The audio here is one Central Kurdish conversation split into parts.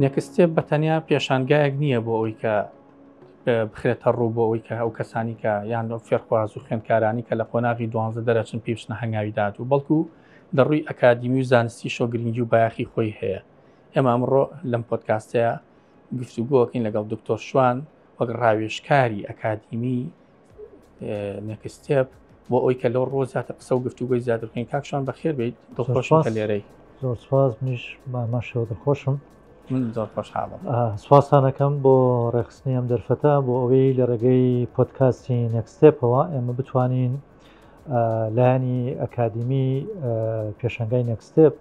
نێکستێپ بە تەنیا پێشانگایەک نییە بۆ ئەوی کە بخرێتە ڕوو بۆ ئەوی کە ئەو کەسانی کە یان لەو فێرخواز و خوێندکارانی کە لە قۆناغی دوانزە دەرەچن پیشنە هەنگاوی داد و بەڵکو لە ڕووی ئەکادیمی و زانستی شۆ گرنگی و بایەخی خۆی هەیە ئێمە ئەمڕۆ لەم پۆتکاستەیە گفتوگۆکەین لەگەڵ دکتۆر شوان وەک ڕاوێشکاری ئەکادیمی نەکستێپ بۆ ئەوی کە لەو ڕۆ زیاتر قسە و گفتوگوی زیاتر بکەین کاکشان بەخێر بیت دڵخۆشم کە لێرەی زۆر سپاس منیش مامە شەوە دڵخۆشم من زۆر خۆشحاڵم سواسانەکەم بۆ ڕێخستنی ئەم دەرفەتە بۆ ئەوەی لە ڕێگەی پۆتکاستی نەکستێپەوە ئێمە بتوانین لایانی ئەکادیمی پێشنگای نەکستێپ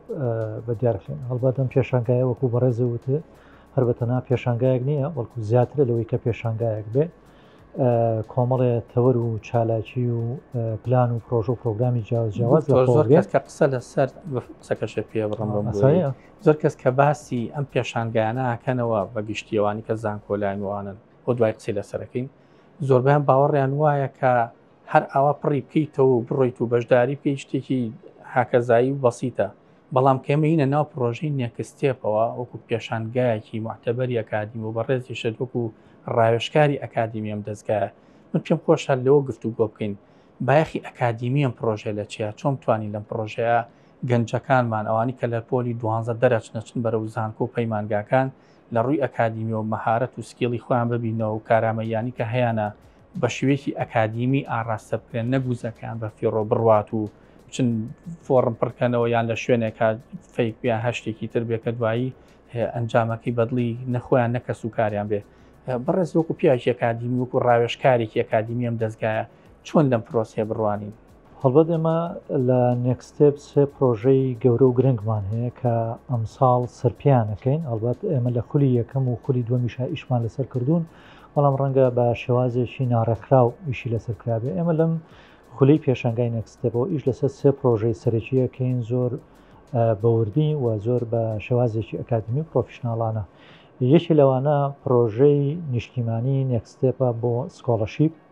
بە دیارخین هەڵبەتم پێشنگایە وەکو بەڕێزە وتێ هەر بەتەنا پێشنگایەک نییە بەڵکو زیاترە لەوەی کە پێشنگایەک بێ کۆمەڵێ تەوەر و چالاکی و پلان و پرۆژە و پرۆگرامی جیاوازجیاواز زۆر کەس کە قسە لەسەر قسەکەشە پێ بڕم زۆر کەس کە باسی ئەم پێشانگایانەکەنەوە بە گشتیەوانی کە زانکۆلاینوانن بۆ دوای قسەی لەسەرەکەین زۆربیان باوەڕیان وایە کە هەر ئاوا پڕی بکەیتەوە بڕۆیت و بەشداری بکەیت شتێکی هاکەزایی و بەسیتە بەڵام کە ئێمە یینە ناو پڕۆژەی نێکستێپەوە وەکو پێشانگایەکی موعتەبەری ئەکادیمی و بەڕێزیشت وەکو ڕاوێژکاری ئەکادیمی ئەم دەزگایە من پێم خۆشە لەوە گفتوگۆ بکەین بایەخی ئەکادیمی ئەم پڕۆژەیە لە چیە چۆن بتوانین لەم پڕۆژەیە گەنجەکانمان ئەوانی کە لە پۆلی دوانزە دەرەچنە چن بەرەو زانکۆ و پەیمانگاکان لە ڕووی ئەکادیمیەوە مەهارەت و سکیڵی خۆیان ببینەوە و کارامەییانی کە هەیانە بە شێوەیەکی ئەکادیمی ئاڕاستە بکرێن، نەک وزەکەیان بە فیڕۆ بڕوات و بچن فۆڕم پڕ کەنەوە یان لە شوێنێکا فەیک بێ یان هەر شتێکی تر بێ کە دوایی ئەنجامەکەی بەدڵی نە خۆیان نە کەس و کاریان بێ. بەڕێز وەکو پیاوێکی ئەکادیمی وەکو ڕاوێژکارێکی ئەکادیمی ئەم دەزگایە چۆن لەم پرۆسەیە بڕوانین؟ هەڵبەت ئێمە لە نێکستێپ سێ پرۆژەی گەورە و گرنگمان هەیە کە ئەمساڵ سەرپیانەکەین هەڵبەت ئێمە لە خولی یەکەم و خولی دووەمیشا ئیشمان لەسەر کردوون بەڵام ڕەنگە بە شێوازێکی ناڕێکخراو ئیشی لەسەر کرابێ ئێمە لەم خولی پێشنگای نێکستێپەوە ئیش لەسەر سێ پرۆژەی سەرەکیەکەین زۆر بەوردی و زۆر بە شێوازێکی ئەکادمی پرۆفیشنناڵانە یەکی لەوانە پرۆژەی نیشتیمانی نێکستێپە بۆ سکۆڵەشیپ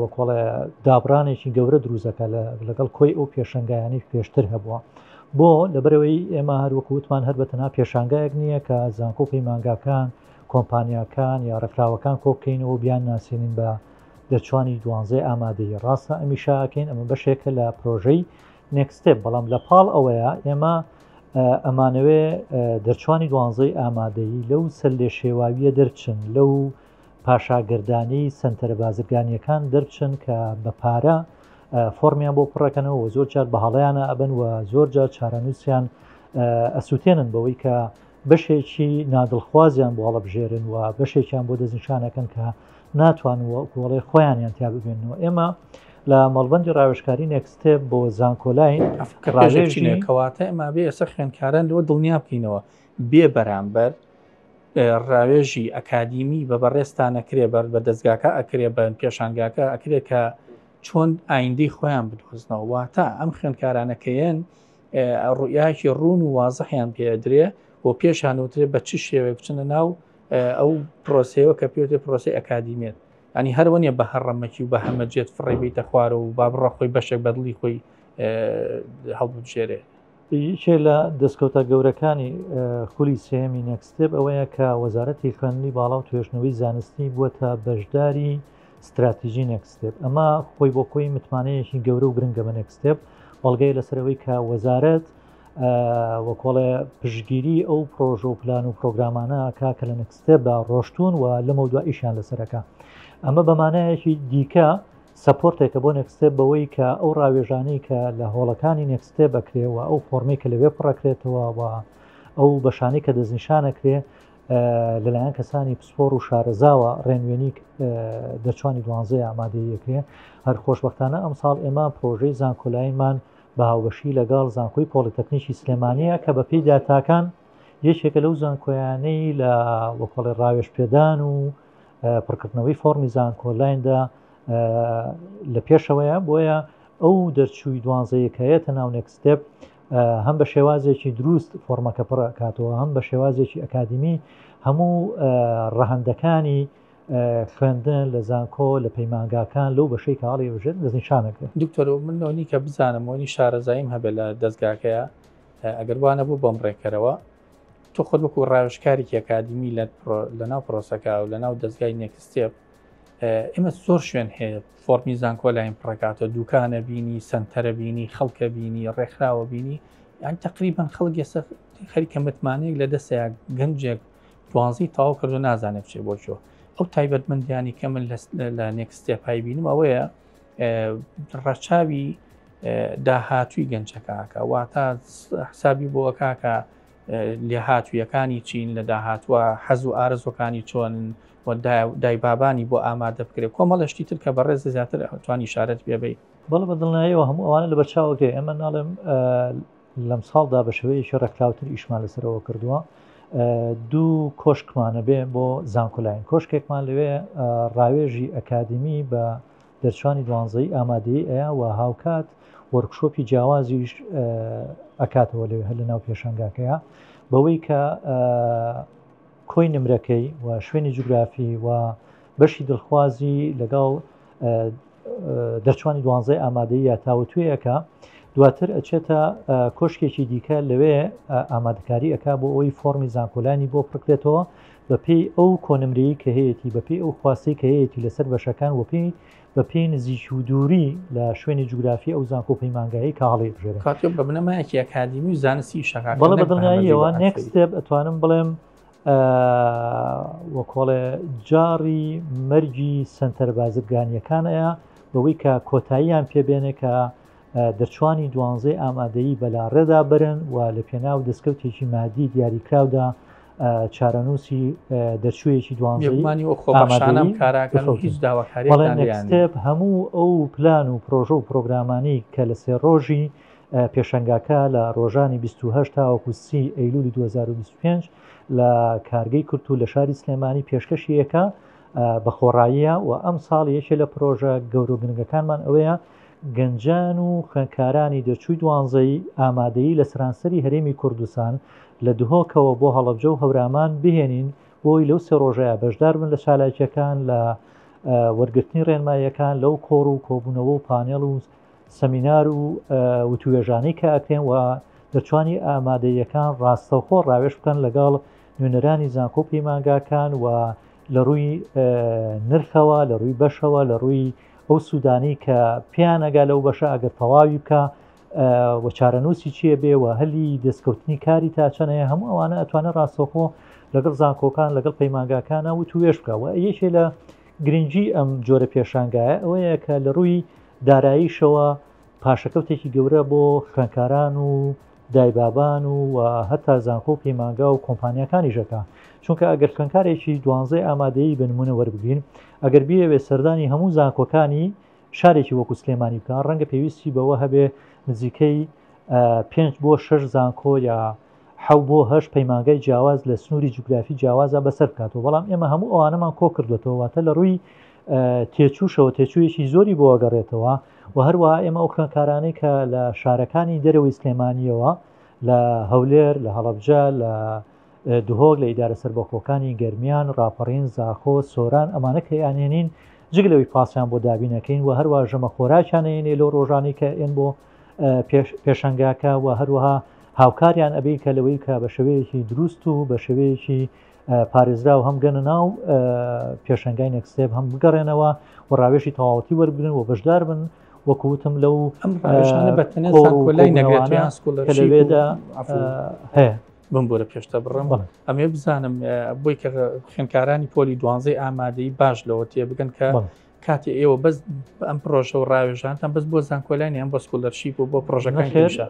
وەکۆڵێ دابڕانێکی گەورە دروزەکە لەگەڵ کۆی ئەو پێشنگایانی پێشتر هەبووە بۆ لەبەرەوەی ئێمە هەروەکووتمان هەر بەتەنا پێشانگایەک نییە کە زانکۆ پەیمانگاکان کۆمپانیاکان یا ڕێکخراوەکان کۆکەینەوە بیان ناسیێنین بە دەچوانی دوانزەی ئامادەی ڕاستە ئەمیشاکەین ئەمە بەشێکە لە پرۆژەی نێکستێ بەڵام لە پاڵ ئەوەیە ئێمە ئەمانەوێ دەرچوانی دوانزەی ئامادەی لەو سەر لێ شێواویە دەرچن لەو پاشا گەردانی سەنتەرە بازرگانیەکان دەربچن کە بە پارە فۆرمیان بۆ پڕەکەنەوە و زۆر جار بە هەڵیانە ئەبن و زۆر جار چارەنووسیان ئەسووتێنن بەوەی کە بەشێکی نادڵخوازیان بۆ هەڵبژێرن و بەشێکیان بۆ دەستنیشانەکەن کە ناتوان و کۆڵێ خۆیانیان تیا ببێنەوە ئێمە لە مەڵبندی ڕاوێشکاری نێکستێ بۆ زانکۆلای ڕاژێژینەکەواتە ئەما بێ ئێستا خوێنکاران لەوە دڵنیا بکەینەوە بێ بەرامبەر ڕاوێژی ئەکادیمی بە بەڕێزتان ئەکرێ بەر بە دەزگاکە ئەکرێ بە پێشانگاکە ئەکرێ کە چۆن ئایندەی خۆیان بدۆزنەوە واتە ئەم خوێندکارانەکەیەن ڕوئیاکی ڕوون و وازحیان پێدرێ بۆ پێشان وترێ بە چ شێوەیە بچنە ناو ئەو پرۆسەیەوە کە پێێ پرۆسی ئەکادیمێت ئەنی هەروەنیە بە هەڕەمەکی و بە هەمەجێت فڕێبیتە خوارەوە و با بڕە خۆی بەشێک بەدڵی خۆی هەڵبژێرێ یەکێ لە دەستکەوتە گەورەکانی خولی سێمی نەکستێب ئەوەیە کە وەزارەتی خوێندنی باڵا و توێشنەوەی زانستی بووە تا بەشداری ستراتیژی نەکستێب ئەمە خۆی بۆ خۆی متمانەیەکی گەورە و گرنگە بە نەکستێب بەڵگەی لەسەرەوەی کە وەزارەت وەکۆڵێ پشگیری ئەو پرۆژە و پلان و پرۆگرامانە کا کە لە نەکستێبدا ڕۆشتون و لەمە دو ئیشان لەسەرەکە ئەمە بەمانایەکی دیکە سەپۆرتێکە بۆ نێکستێپ بەوەی کە ئەو ڕاوێژانەی کە لە هۆڵەکانی نێکستێپ ئەکرێ و ئەو فۆرمەی کە لەوێ پڕەکرێتەوە و ئەو بەشانەی کە دەستنیشانەکرێ لەلایەن کەسانی پسپۆر و شارەزاوە ڕێنوێنی دەچوانی دوانزەی ئامادەیەکرێ هەر خۆشببختانە ئەم ساڵ ئێمە پرۆژەی زانکۆلاینمان بە هاوبەشی لەگەڵ زانکۆی پۆلیتەکنیکی سلێمانەیە کە بە پێی داتاکان یەکێکە لەو زانکۆیانەی لە وەکڵێ ڕاوێش پێدان و پڕکردنەوەی فۆڕمی زانکۆلایندا لە پێشەوەیە بۆیە ئەو دەرچووی دوانزەیەکەیە تا ناو نێکستێپ هەم بە شێوازێکی دروست فۆرمەکە پڕکاتەوە هەم بە شێوازێکی ئەکادمی هەموو ڕەهندەکانی خوێندن لە زانکۆ لە پەیمانگاکان لەو بەشەی کاڵی وژێت دەستنیشانەکە دکتۆر من لەونی کە بزانم وەنی شارەزاییم هەبێت لە دەستگاکەیە ئەگەر وانە بوو بەم ڕێکەرەوە تۆ خۆت وەکو ڕاوشکارێکی ئەکادمی لە لەناو پرۆسەکە و لەناو دەستگای نێکستێپ ئمە زۆر شوێن هەیە فۆرمی زانکۆ لاین پڕکاتەوە دوکانە بینی سنتەرە بینی خەڵکە بینی ڕێکخراوە بینی یان تقریبان خەڵک ئێستا خەریکە متمانەیەک لە دەستەیە گەنجێک دوانزی تاو کردو نازانێت بچێ بۆچۆ ئەو تایبەتمەندیانی کە من لە نێکستێپای بینم ئەوەیە ڕەچاوی داهاتووی گەنجەکەکە واتە حسابی بۆ کاکە لێهاتویەکانی چین لە داهاتوە حەز و ئارزۆکانی چۆن دای بابانی بۆ ئامادە بکرێت کۆمەڵشتی تر کە بەڕێز زیاتر توانی شارەت پێبی بەڵ بە دڵنایەوە هەموو ئەوانە لە بەرچاوەکەی ئەمە ناڵێم لەم ساڵدا بە شێوەیەکی ڕێکخراوتر ئیشمان لەسەرەوە کردووە دوو کۆشکمانە بێ بۆ زانکۆلاین کۆشکێکمان لەوێ ڕاوێژی ئەکادمی بە دەرچوانی دوانزەیی ئامادەیی ئەیا وە هاوکات وۆرکشۆپی جیاوازیش ئەکاتەوە لەوێ هەر لە ناو پێشەنگاکەیە بەوەی کە کۆی نمرەکەی و شوێنی جوگرافی و بەشی دڵخوازی لەگەڵ دەرچوانی دوانزەی ئامادەی یا تاوتوێیەکە دواتر ئەچێتە کۆشکێکی دیکە لەوێ ئامادەکاری ئەک بۆ ئەوی فۆمی زانکۆلانی بۆ پڕکرێتەوە بە پێی ئەو کۆنمرەیەی کە هەیەتی، بە پێی ئەو خواستەی کە هەیەتی لە سەر بەشەکان و پێی بە پێی نزیکی و دووری لە شوێنی جوگرافی ئەو زانکۆ و پەیمانگایەی کە هەڵیبژێرن. کاک تۆ بە بنەمایەکی ئەکادیمی و زانستی ئیشەکە کە بەڵێ بە نەک بە هەمە دڵنیاییەوە زیبا next ئەفەری. step ئەتوانم بڵێم ئە وە کۆڵێ جاڕی مەرگی سەنتەرە بازرگانیەکان ە بەوەی کە کۆتاییان پێ بێنێ کە دەرچوانی دوانزەی ئامادەیی بەلاڕێدا برن و لە پێناو دەستکەوتێکی مادی دیاریکراودا چارەنووسی دەرچوویەکی دوانزەیمانی و خۆماشانم کاراکە هیچ داواکاریێپ هەموو ئەو پلان و پرۆژە و پرۆگرامانی کە لە سێ ڕۆژی پێشنگاکە لە ڕۆژانی 28 تاوەکو سی ئەیلولی 2025 لە کارگەی کورت و لە شاری سلێمانی پێشکەشیەکە بە خۆڕاییە و ئەم ساڵ یەکێ لە پرۆژە گەورۆگرنگەکانمان ئەوەیە گەنجان و خوێندکارانی دەرچووی دوانزەی ئامادەی لە سەرانسەری هەرێمی کوردستان لە دهۆکەوە بۆ هەڵەبجە و هەورامان بهێنین بۆی لەو سێ ڕۆژەیە بەشدار بن لە چالاکیەکان لە وەرگرتنی ڕێنماییەکان لەو کۆڕ و کۆبوونەوە و پانێڵ و سەمینار و وتوێژانەی کە ئەکرێن و دەتوانی ئامادەیەکان ڕاستەوخۆ ڕاوێش بکەن لەگەڵ نوێنەرانی زانکۆ پەیمانگاکان و لە ڕووی نرخەوە لە ڕووی بەشەوە لە ڕووی ئەو سوودانەی کە پیانەگا لەو بەشە ئەگەر تەواوی بکە وە چارەنووسی چیە بێ و هەلی دەستکەوتنی کاری تا چەنەیە هەموو ئەوانە ئەتوانە ڕاستەخۆ لەگەڵ زانکۆکان لەگەڵ پەیمانگاکانە و توێش بکە و یەکێ لە گرنگجی ئەم جۆرە پێشانگایە ئەوەیە کە لە ڕووی داراییشەوە پاشەکەوتێکی گەورە بۆ خوێنکاران و دایبابان و و هەتا زانکۆ و پەیمانگا و کۆمپانیاکانیشەکە چونکە ئەگەر خوێنکارێکی دوانزەی ئامادەیی بە نمونە وەربگرین ئەگەر بیەوێ سەردانی هەموو زانکۆکانی شارێکی وەکو سلێمانی بکە ڕەنگە پێویستی بەوە هەبێ نزیکەی پێنج بۆ شەش زانکۆ یا حەو بۆ هەش پەیمانگای جیاواز لە سنووری جوگرافی جیاوازە بەسەر بکاتەوە بەڵام ئێمە هەموو ئەوانەمان کۆ کردوێتەوە واتە لە ڕووی تێچووشەوە تێچوویەکی زۆری بۆ ئەگەڕێتەوە و هەروە ئێمە ئەو خوێنکارانەی کە لە شارەکانی دەرەوەی سلێمانیەوە لە هەولێر لە هەڵبجە لە دهۆک لە ئیدارە سربەخۆکانی گەرمیان راپەڕین زاخۆ سۆران ئەمانە کە یانێنین جگ لەوەی پاسیان بۆ دابینەکەین و هەروە ژەمە خۆراکیانەیەێ لەو ڕۆژانی کە ئێن بۆ پێشنگاکە و هەروەها هاوکاریان ئەبی کە لەوەی کە بە شێوەیەکی دروست و بە شێوەیەکی پارێزرا و هەم گەنە ناو پێشنگای نەکسێب هەم بگەڕێنەوە و ڕاوێشی تەواوەتی وەربگرن و بەشدار بن وەکوتم لەو لەوێدا هەیە بم بۆرە پێشتە بڕم ئەمێ بزانم بۆی کە خوێنکارانی پۆلی دوانزەی ئامادەی باش لەوە تێ بگەن کە کاتی ئێوە بەس بە ئەم پرۆژە و ڕاوێژانتان بەس بۆ زانکۆلانی یان بۆ سکولەرشیپ و بۆ پرۆژەکان خێر هێشە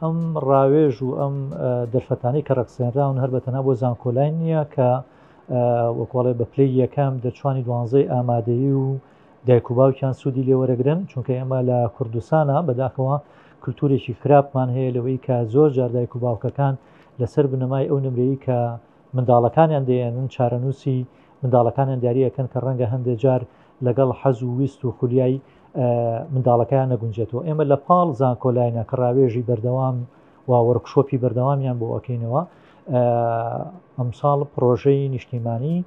ئەم ڕاوێژ و ئەم دەرفەتانەی کە ڕەخسێنراون هەر بەتەنا بۆ زانکۆلای نییە کە وەکۆڵێ بە پلەی یەکەم دەرچوانی دوانزەی ئامادەیی و دایک و باوکیان سوودی لێ وەرەگرن چونکە ئێمە لە کوردستانە بەداخەوە کللتورێکی خراپمان هەیە لەوەی کە زۆر جار دایک و باوکەکان لەسەر بنەمای ئەو نمرەی کە منداڵەکانیان دەیەنن، چارەنووسی منداڵەکانیان دیاری ئەکەن کە ڕەنگە هەندێ جار لەگەڵ حەز و ویست و خولیای منداڵەکەیان نەگونجێتەوە، ئێمە لە پاڵ زانکۆلاینە کە ڕاوێژی بەردەوام و وۆرکشۆپی بەردەوامیان بۆ ئەکەینەوە، ئەمساڵ پرۆژەی نیشتیمانی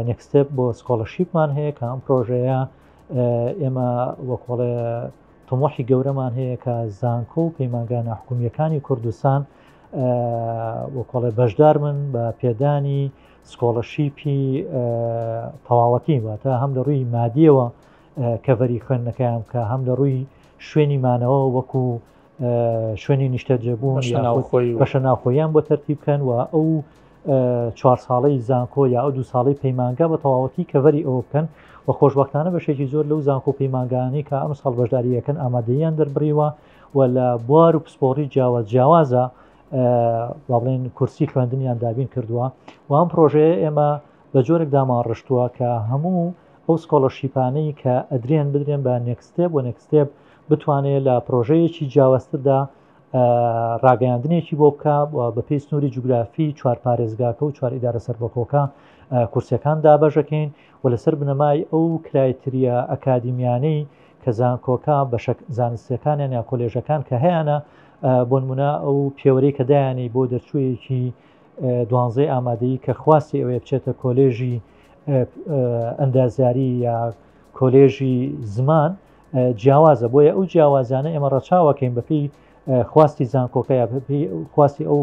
نێکستێپ بۆ سکۆڵەشیپمان هەیە کە ئەم پرۆژەیە ئێمە وەکۆڵێ تمۆحی گەورەمان هەیە کە زانکۆ و پەیمانگانە حکومیەکانی کوردستان وەکۆڵێ بەشدار من بە پێدانی سکۆڵەشیپی تەواوەتی واتە هەم لە ڕووی مادیەوە کەڤەری خوێندنەکەیان کە هەم لە ڕووی شوێنی مانەوە وەکو شوێنی نیشتەجێبوون بەشە ناوخۆیان بۆ تەرتی بکەن و ئەو چوار ساڵی زانکۆ یا ئەو دو ساڵی پەیمانگا بە تەواوەتی کەڤەری ئەوە بکەن و خۆشببختانە بەشێکی زۆر لەو زانکۆ پەیمانگانی کە ئەم ساڵ بەشداریەکەن ئامادەیان دەربڕیوە و لە بوار و پسپۆڕی جیاواز جیاوازە با بڵێن کورسی خوێندنیان دابین کردووە و ئەم پرۆژەیە ئێمە بە جۆرێک دامان ڕشتووە کە هەموو ئەو سکۆڵەرشیپانەی کە ئەدرێن بدرێن بە نێکستێب و نێکستێب بتوانێت لە پرۆژەیەکی جیاوازتردا ڕاگەیاندنێکی بۆ بکە بە پێی سنووری جوگرافی چوار پارێزگاکە و چوار ئیدارە سەربەخۆکە کورسەکان دابەژەکەین و لەسەر بنەمای ئەو کرایتریا ئەکادیمیانەی کە زانکۆکە بەشە زانستیەکانیان یا کۆلێژەکان کە هەیەە بۆنمونە ئەو پێوەری کە دایانی بۆ دەرچوویەکی دوانزەی ئامادەی کە خواستی ئەوێ بچێتە کۆلێژی ئەندازیاری یا کۆلێژی زمان جیاوازە بۆیە ئەو جیاوازانە ئێمە ڕەچاوەکەین بەپی خواستی زانکۆکە یا خواستی ئەو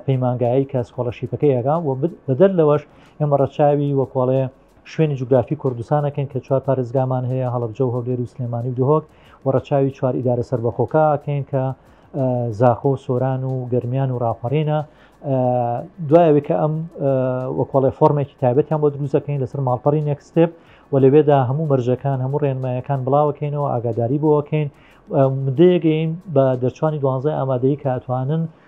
پەیمانگایی کە سکۆڵەشیپەکەیەکە و بەدەر لەوەش ئێمە ڕەچاوی وەکۆڵێ شوێنی جوگرافی کوردستانەکەین کە چوار پارێزگامان هەیە، هەڵەبجە و هەولێر و سلێمانی و دهۆک و ڕەچاوی چوار ئیدارە سەربەخۆکە ئەکەین کە زاخۆ و سۆران و گەرمیان و ڕاپەڕینە دوای ئەوەی کە ئەم وەکۆڵێ فۆرمێکی تایبەتیان بۆ دروستەکەین لەسەر ماڵپەڕی نێکستێپ و لەوێدا هەموو مەرجەکان هەموو ڕێنمایەکان بڵاوەکەینەوە ئاگاداری بۆەکەین مدەیەگەین بە دەرچوانی دوانزای ئامادەی کاتوانن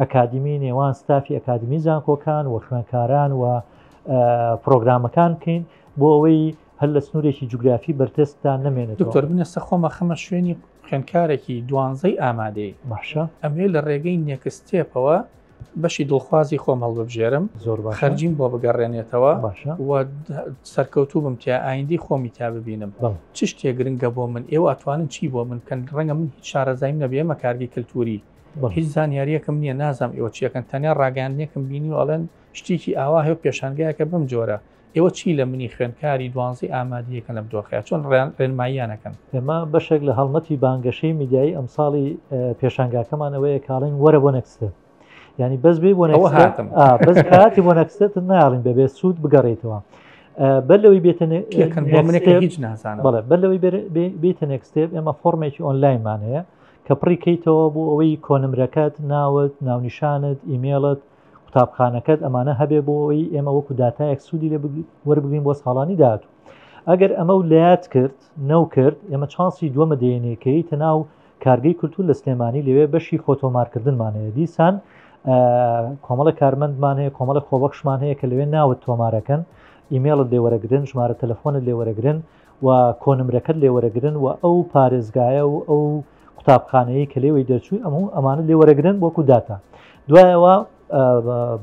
ئەکادیمی نێوان ستافی ئەکادمی زانکۆکان و خوێنکاران و پرۆگرامەکان بکەین بۆ ئەوەی هەر لە سنوورێکی جوگرافی بەرتێستان نمێنێت دکتۆر من ئێستا خۆمە خەمە شوێنی خوێنکارێکی دوانزەی ئامادەی باشە ئەمێ لە ڕێگەی نێکستێپەوە بەشی دڵخوازی خۆم هەڵببژێرم زۆر بە خەرجیم بۆ بگەڕێنێتەوە باشە و سەرکەوتوو بم تیا ئایندی خۆمی تا ببینم چ شتێ گرنگە بۆ من ئێوە ئەتوانن چی بۆ من کەن ڕەنگە من هیچ شارەزایم نەبێمە کارگی کللتوری بۆ هیچ زانیاریەکم نییە نازام ئێوە چیەکەن تەنیا ڕاگەاندنێکم بینی و ئەڵێن شتێکی ئاوا هەیە پێشانگایەکە بم جۆرە ئێوە چی لە منی خوێندکاری دوانزی ئامادیەکە لەم دۆخەیە چۆن ڕێن ڕێنماییانەکەن ئێمە بەشێک لە هەڵمەتی بانگەشەی میدیایی ئەمساڵی پێشانگاکەمانەوەیە کاڵین وەرە بۆ نەکسێت ینی بەس بێ بۆ هاتم بەس کاتی بۆ نەکسێت ناڵین بەبێ سوود بگەڕێتەوە بەر لەوەی بێتەنێکەکە هیچ نازانە بەڵێ بەر لەوەی بێتە نێکستێب ئێمە فۆرمێکی ئۆنلاینمان هەیە کە پڕی کەیتەوە بۆ ئەوەی کۆنمرەکەت ناوت ناونیشانت ئیمێڵت قوتابخانەکەت ئەمانە هەبێ بۆ ئەوەی ئێمە وەکو داتایەک سوودی لێ وەربگرین بۆ ساڵانی داهاتوو ئەگەر ئەمە و لات کرد نەو کرد ئێمە چانسی دووەمە دێنێکەی تەناو کارگەی کولتور لە سلێمانی لەوێ بەشی فۆتۆمارکردنمان هەیە دیسان کۆمەڵە کارمەندمان هەیە کۆمەڵە خۆبەخشمان هەیە کە لەوێ ناوت تۆمارەکەن ئیمێڵت لێوەرەگرن ژمارە تەلەفۆنت لێوەرەگرن و کۆنمرەکەت لێ وەرەگرن و ئەو پارێزگایە و ئەو قوتابخانەیەی کە لێوەی دەرچووی ئەم هەموو ئەمانە لێ وەرەگرن وەکو داتا دوایەوە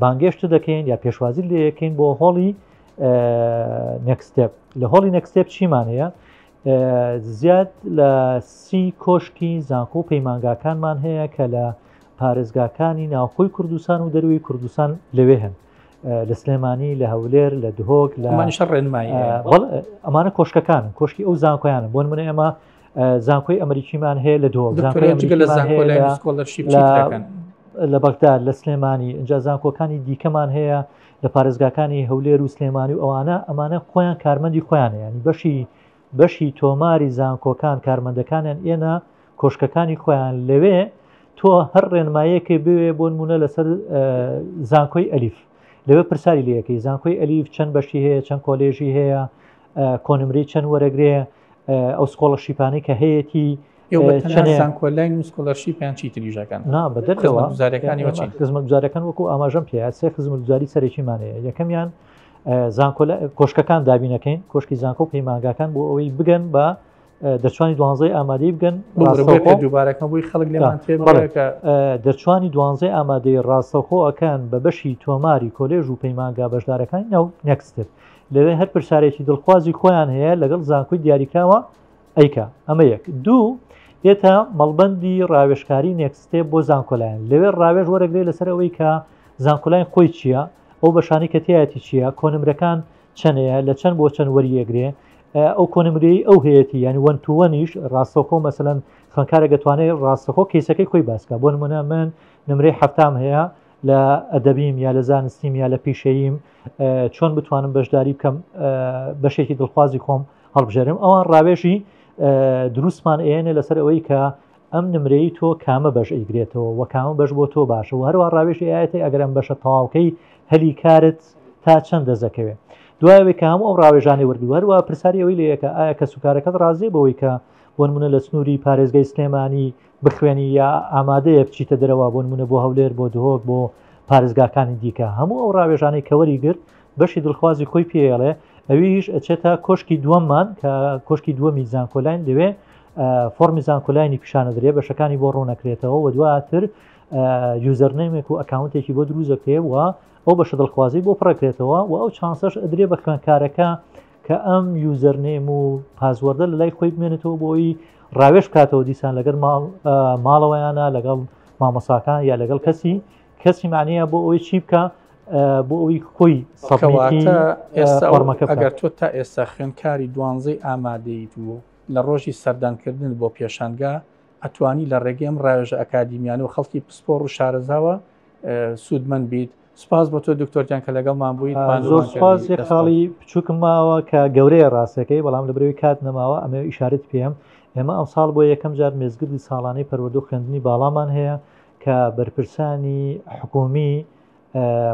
بانگێشت دەکەین یا پێشوازی لێ یەکەین بۆ هۆڵی نەکسستێپ لە هۆڵی نەکسستێپ چیمان هەیە زیاد لە سی کۆشکی زانکۆ و پەیمانگاکانمان هەیە کە لە پارێزگاکانی ناوخۆی کوردستان و دەروی کوردستان لەوێ هەن لە سلێمانی لە هەولێر لە دهۆک لە ئەمانە کۆشکەکان کۆشکی ئەو زانکۆیان بۆن منە ئێمە زانکۆی ئەمریکیمان هەیە لە دۆ لە بەغدا لە سلێمانی ئەجا زانکۆکانی دیکەمان هەیە لە پارێزگاکانی هەولێر و سلێمانی و ئەوانە ئەمانە خۆیان کارمەندی خۆیان ینی بەشی بەشی تۆماری زانکۆکان کارمەندەکانیان ئێنە کۆشکەکانی خۆیان لەوێ تۆ هەر ڕێنمایەکەی بوێ بۆ نمونە لەسەر زانکۆی ئەلیف لەوێ پرساری لەکەی زانکۆی ئەلیف چەند بەشی هەیە چەند کۆلێژی هەیە کۆنمری چەند وەرەگرێ ئەو سکۆڵە شیپانی کە هەیەی زانکۆلای نووسکۆلەرشی پێیان چی تریژەکەن نا بەدەرەوە گوزارەکانی خزمە گوزارەکان وەکو ئاماژەم پێ سێ خزمە گوزاری سەرەکیمانەیە یەکەمیان زانکۆ کۆشکەکان دابینەکەین کۆشکی زانکۆ و پەیمانگاکان بۆ ئەوەی بگەن بە دەرچوانی دوانزەی ئامادەی بگەن دووبارەکەبووی خەڵک دەرچوانی دوانزەی ئامادەی ڕاستەخۆەکان بە بەشی تۆماری کۆلێژ و پەیمانگا بەشدارەکانی ناو نەکستر لەوێ هەر پرسارێکی دڵخوازی خۆیان هەیە لەگەڵ زانکۆی دیاریکراوە ئەیکا. ئەمە یەک. دوو، ئێتە مەڵبەندی ڕاوێژکاری نێکست ستێپ بۆ زانکۆلاین. لەوێ ڕاوێژ وەرەگرێ لەسەر ئەوەی کە زانکۆلاین خۆی چییە، ئەو بەشانەی کە تیایەتی چییە، کۆنمرەکان چەنەیە، لە چەن بۆ چەن وەریئەگرێ، ئەو کۆنمرەیەی ئەو هەیەتی، یانی وەن تو وەنیش ڕاستەوخۆ مەسەلەن خوێندکارێک ئەتوانێ ڕاستەخۆ کەیسەکەی خۆی باس کا. بۆ نموونە من نمرەی حەفتام هەیە لە ئەدەبیم یا لە زانستیم یا لە پیشەییم، چۆن بتوانم بەشداری بکەم، بەشێکی دڵخوازی خۆم، هەڵبژێرم ئەوان ڕاوێژی دروستمان ئێنێ لەسەر ئەوەی کە ئەم نمرەی تۆ کامە بەش ئەیگرێتەوە و کامە بەش بۆ تۆ باشە و هەروە ڕاوێژی ئاەتی ئەگەرم بەشە تەواوکەی هەلی کارت تا چەند دەزەکەوێت دوایەوەی کە هەموو ئەو ڕاوێژانی وردوەروە پرسیاری ئەوی لەیەکە ئایا کە سوکارەکەت ڕازێ بەوەی کە بۆ نمونە لە سنووری پارێزگەی سلێمانی بخوێنی یا ئامادەیە بچیتە دەرەوە بۆ نمونە بۆ هەولێر بۆ دهۆک بۆ پارێزگاکانی دیکە هەموو ئەو ڕاوێژانەی کەوەری گرت بەشی دڵخوازی خۆی پێڵێ ئەویش ئەچێتە کۆشکی دووەممان کە کۆشکی دووەمی زانکۆلاین دەوێ فۆرمی زانکۆلاینی پیشانە درێ بەشەکانی بۆ ڕوونەکرێتەوە و دواتر یوزەرنەیمێک و ئەکاونتێکی بۆ دروزەکەێ و ئەو بەشە دڵخوازی بۆ پڕەکرێتەوە و ئەو چانسەش ئەدرێ بە خوێنکارەکە کە ئەم یوزەرنێم و پازوەەردە لە لای خۆی بمێنێتەوە بۆی ڕاوێش بکاتەوە دیسان لەگەر ماڵەوەیانە لەگەڵ مامۆساکان یا لەگەڵ کەسی کەسی مانەیە بۆ ئەوی چی بکە بۆ ئەوی کۆی سەڕمەکە ئەگەر تۆ تا ئێستا خوێنکاری دوانزەی ئامادەیت و لە ڕۆژی سەردانکردن بۆ پێشانگا ئەتوانی لە ڕێگەم ڕاوێژە ئەکادیمیان و خەڵکی پسپۆڕ و شارەزاوە سوودمەند بیت سپاس بۆ تۆ دکتۆرتیان کە لەگەڵمان بوویت زۆر سپاس خاڵی بچووکم ماوە کە گەورەیە ڕاستەکەی بەڵام لە برەوەی کات نەماوە ئەمە ئیشارت پێم ئێمە ئەم ساڵ بۆ یەکەم جار مێزگردی ساڵانەی پەروەدو خوێندنی باڵامان هەیە کە بەرپرسانی حکومی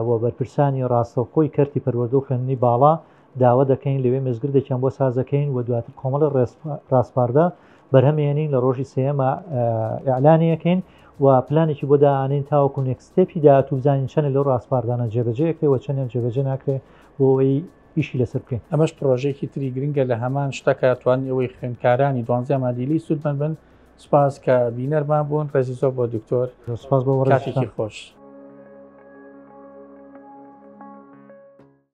و بەرپرسانی ڕاستەوخۆی کەرتی پەروەردە و خوێندنی باڵا داوا دەکەین لەوێ مزگردێکیان بۆ سازەکەین و دواتر کۆمەڵی ڕاسپاردە بەرهەمێنین لە ڕۆژی سێمە ئەلانیەکەین و پلانێکی بۆ داانین تاوەکو نێکستێپی داات و بزانین چەنە لەو ڕاسپاردانە جێبەجەکرێ و چەندیان جێبەجێ ناکرێ بۆی ئیشی لەسەر بکەین ئەمەش پرۆژێکی تری گرنگە لە هەمان شتەکە توان ئەوەی خوێندکارانی دوانزیان مادیلی سوودمەند بن سپاس کە بینەرمان بوون ڕێزی زۆر بۆ دکتۆر سپاس بۆ ڕێکی خۆش.